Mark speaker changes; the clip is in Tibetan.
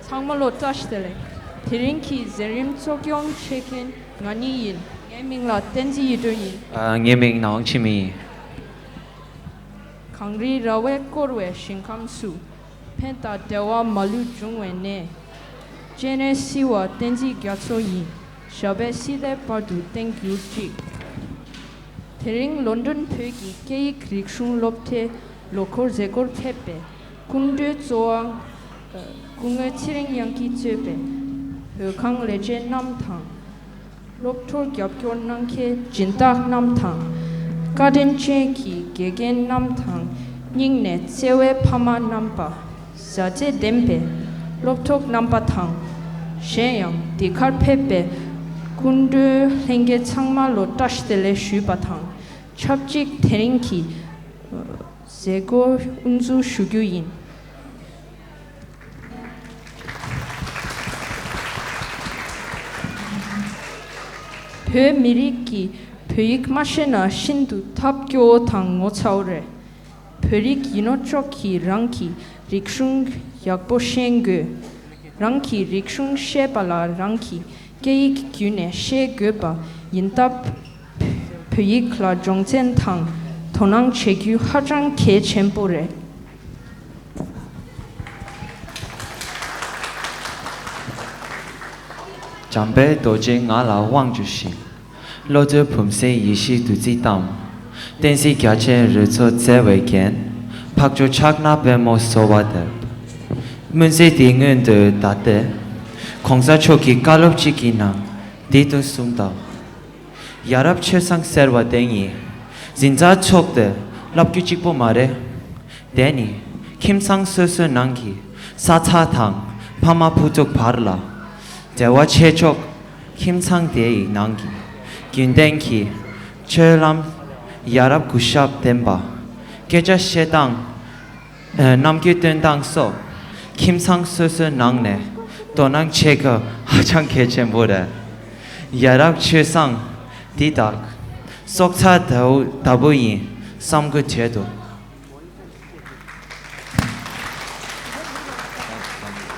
Speaker 1: ཚང་མ་ལོ་ཙཱ་ཞི་ལེ། དེ་རིང་གི་གཟན་རིམ་གཙོ་སྐྱོང་བྱེད་མཁན་ང་གཉིས་ཡིན། ངའི་མིང་ལ་བསྟན་འཛིན་ཡེ་སྒྲོན་ཡིན། ངའི་མིང་ནའོང་
Speaker 2: ཆི་མིན་ཡིན།
Speaker 1: གངས་རིའི་ར་བས་བསྐོར་བའི་ཞིང་ཁམས་སུ། ཕན་དང་བདེ་བ་མ་ལུས་འབྱུང་བའི་གནས། སྤྱན་རས་གསིལ་བ་བསྟན་འཛིན་རྒྱ་མཚོ་ཡིན། ཞབས་པད་སྲིད་མཐའི་བར་དུ་བརྟན་གྱུར་ཅིག། དེ་རིང་ལོ་འདོན་བོད་ཀྱི་སྐད་ཡིག་རིག་གཞུང་སློབ་གྲྭའི་ལོ་འཁོར་མཛད་སྒོར་ཕེབས་པའི་སྐུ་མགྲོན་གཙོ་བ། སྐུ་ངོས་ཚེ་རིང་དབྱངས་ཀྱིས་གཙོས་པའི་བོད་ཁང་ལས་བྱེད་རྣམས་དང། སློབ་གྲོགས་རྒྱབ་སྐྱོར་གནང་མཁན་སྦྱིན་བདག་རྣམས་དང། བཀའ་དྲིན་ཅན་གྱི་དགེ་རྒན་རྣམས་དང་སྙིང་ནས་བརྩེ་བའི་ཕ་མ་རྣམ་པ། བཟའ་བཅའི་བདེན་པའི་སློབ་གྲོགས་རྣམ་པ་དང། གཞན་ཡང་འདི་གར་ཕེབས་པའི་སྐུ་མགྲོན་ལྷན་རྒྱས་ཚང་མ་ལོ་བཀྲ་ཤིས་ལེ་ཞུས་པ་དང་ཆབས་ཅིག་དེ་རིང་གི་མཛད་སྒོའི་དབུ་འཛུགས་ཞུ་རྒྱུ་ཡིན། བོད་མི་རིགས་ཀྱིས་བོད་ཡིག་མ་ཤེས་ན་ཤིན་ཏུ་ཐབས་སྐྱོ་བོ་དང་ངོ་ཚ་བོ་རེད། བོད་རིགས་ཡིན་ནོ་ཅོག་གིས་རང་གི་རིག་གཞུང་ཡག་པོ་ཤེས་དགོས། རང་གི་རིག་གཞུང་ཤེས་པ་ལ་རང་གི་སྐད་ཡིག་བརྒྱུད་ནས་ཤེས་དགོས་པ་ཡིན་སྟབས། བོད་ཡིག་ལ་སྦྱོང་ཚན་དང་དོ་སྣང་བྱེད་རྒྱུ་ཧ་ཅང་གལ་ཆེན་པོ་རེད།
Speaker 2: འཇམ་དཔལ་རྡོ་རྗེ་ང་ལ་དབང་བསྒྱུར་ཞིང། བློ་རྩལ་བུམ་གཟེངས་ཡེ་ཤེས་བདུད་རྩིས་གཏམས། བསྟན་སྲིད་རྒྱ་ཆེན་རོལ་མཚོ་བརྩེ་བས་བརྒྱན། འཕགས་མཆོག་ཕྱག་ན་པད་མོ་གསོལ་བ་འདེབས། སྨོན་ཚིག་འདི་སྔོན་དུ་བཟླས་ཏེ། གོང་ས་མཆོག་གི་བཀའ་སློབ་གཅིག་གི་ནང་འདི་དུ་གསུངས་དང། ཡ་རབས་ཆོས་བཟང་ཟེར་བ་དེ་ཉིད་གཟི་མཛའ་མཆོག་སྟེ་བསླབ་རྒྱུ་གཅིག་པོ་མ་རེད། དེ་ནི་ཁྱིམ་ཚང་སོ་སོའི་ནང་གི་ས་ཚ་དང་ཕ་མ་བུ་ཕྲུག་བར་ལ་འབྲེལ་བ་ཆེ་ཆོག་ཁྱིམ་ཚང་དེའི་ནང་གི་རྒྱུན་ལྡན་གྱི་སྤྱོད་ལམ་ཡ་རབས་གུས་ཞབས་ལྡན་པ་སྐད་ཆ་བཤད་སྟངས། ནམ་མཁའི་སྟོན་སྟངས་སོགས་ཁྱིམ་ཚང་སོ་སོའི་ནང་ནས་དོ་སྣང་བྱེད་སྐབས་ཧ་ཅང་གལ་ཆེན་པོ་རེད། ཡ་རབས་ཆོས་བཟང་འདི་དག་སྲོག་རྩ་ལྟ་བུ་ཡིན་བསམ་དགོས་བྱེད་དོ།